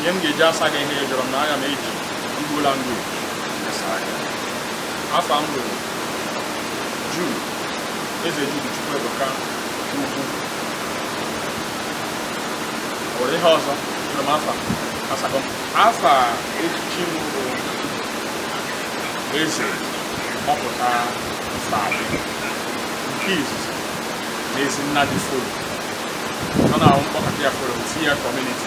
ihe m ga-eji asa gị ihe ị jụrụ m na aga m eji igbo language asara gị afa m bụ juu eze jude chukwuebuka ukwu ọ nwere ihe ọzọ jụrụ m afa asakọ m afa echichi m bụ eze ọpụta ife adị nke izizi na ezi nna dị folo ọ na-ahụ mkpọkọta ya folo si ya kọmuniti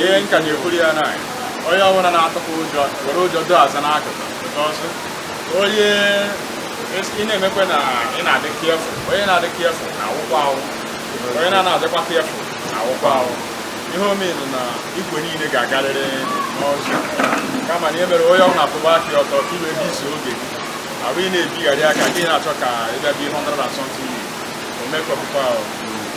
ihe m ka na-ekwuru ya na onye ọbụla na-atụkwa ụjọ were ụjọ dọsa n'akụkụ ọzọ onye ị na-emekwa na ị na-adị careful onye na-adị careful na-anwụkwa anwụ onye na-adịkwa careful na-anwụkwa anwụ ihe omenụ na igwe niile ga-agarịrị n'ụzụ kama na ihe mere onye ọbụla atụba aka ọtọ ka iwe isi oge abụghị na-ebigharị aka gị na-achọ ka ị bịa bi 100 and something omekọpụkwa ahụ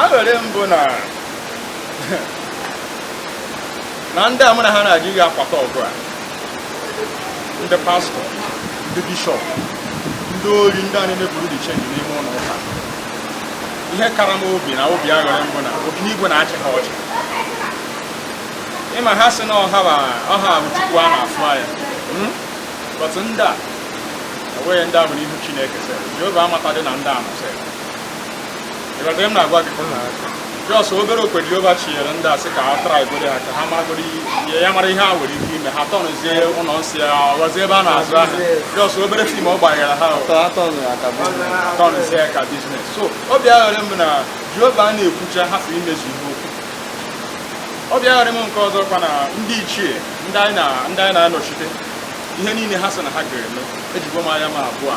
aṅụrị m bụ na na ndị a mụ na ha na-aga ihe akwata ọgụ a ndị pastọ ndị bishọp ndị ori ndị a na-eme bureau de change n'ime ụlọ ụka ihe kara m obi na obi aṅụrị m bụ na obinigwe na-achị ha ọchị ịma ha sị na ọ ha ba- ọ ha bụ chukwu a na-afụ anya Hmm? but ndị a enweghị ndị a bụ n'ihu chineke sị jehova amatadị na ndị a masịrị ịghọta m na-agwa gị jọs obere okwe Jehova chinyere ndị a sị ka a traịgodu ha ka ha magoro ihe ya mara ihe ha nwere ike ime ha tọnụzie ụlọ nsọ ya ọ ghọzie ebe a na-azụ ahịa jọs obere fim ọ gbanyere ha tọnụzie ka biznes so obi aṅụrị m na Jehova a na-ekwucha hapụ imezu ihe o kwu obi aṅụrị m nke ọzọ kwa na ndị ichie ndị anyị na-anọchite ihe niile ha sị na ha ga-eme ejigo m anya m abụọ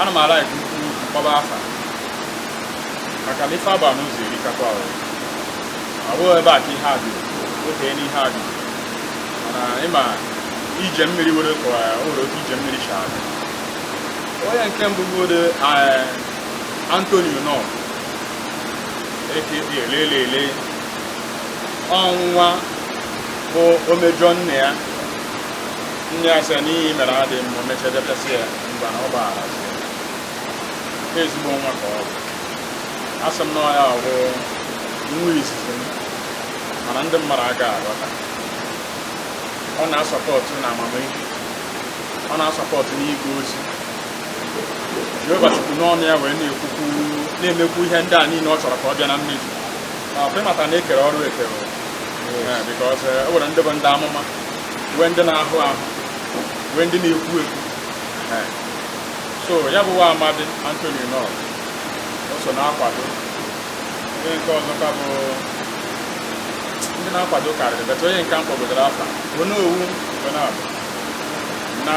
ana m alaik mkpọba afa maka na ife agba n'ụzọ erikakwa ahụ abụghị ebe a ka ihe a dị oke n'ihe a dị mana ịma ije mmiri were ka o nwere otu ije mmiri si adị onye nke mbụ bụgodu antonio nọ eke elelele ọ nwa bụ o mejọ nne ya nne ya sị ya na ihe ị mere adịghị mma mechadị pịasịa ya mgbe na ọ gbagharazi ya ezigbo nwa ka ọ bụ asị m na ọ ya bụ nwa izizi m mana ndị mmadụ aga aghọta ọ na-asọpọtụ na amamihe ọ na-asọpọtụ n'ịga ozi jehova sikwu n'ọnụ ya wee na-ekwukwu na-emekwu ihe ndị a niile ọ chọrọ ka ọ bịa na mmezu but ị mata na e kere ọrụ ekere bikọs e nwere ndị bụ ndị amụma nwee ndị na-ahụ ọhụ nwee ndị na-ekwu ekwu so ya bụ nwa amadi Anthony Knorr o so na-akwado onye nke ọzọkwa bụ ndị na-akwado karịrị bata onye nke m kpọgodoro afa onye ọ wụ na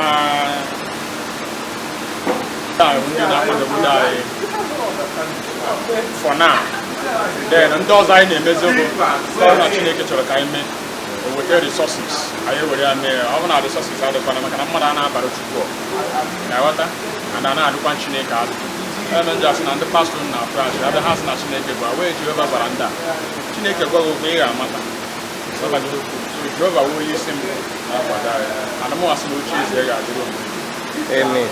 ndị na-akwadogodu anyị for now then ndị ọzọ anyị na-emezi bụ na Chineke chọrọ ka anyị mee o weta resources anyị were ya mee ọ bụ na resources adịkwana maka na mmadụ a na-abara Chukwu na-aghọta na na na-adịkwa Chineke adị eme ndị asị na ndị pastọ na afụ achị abịa ha sị na Chineke gwa wee Jehova gwara ndị a Chineke gwaghị okwu ị ga-amata Jehova wee onye isi m na-akwado anyị ana m asị na oche eze ya ga-adịrị omume Amen.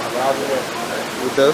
Udo.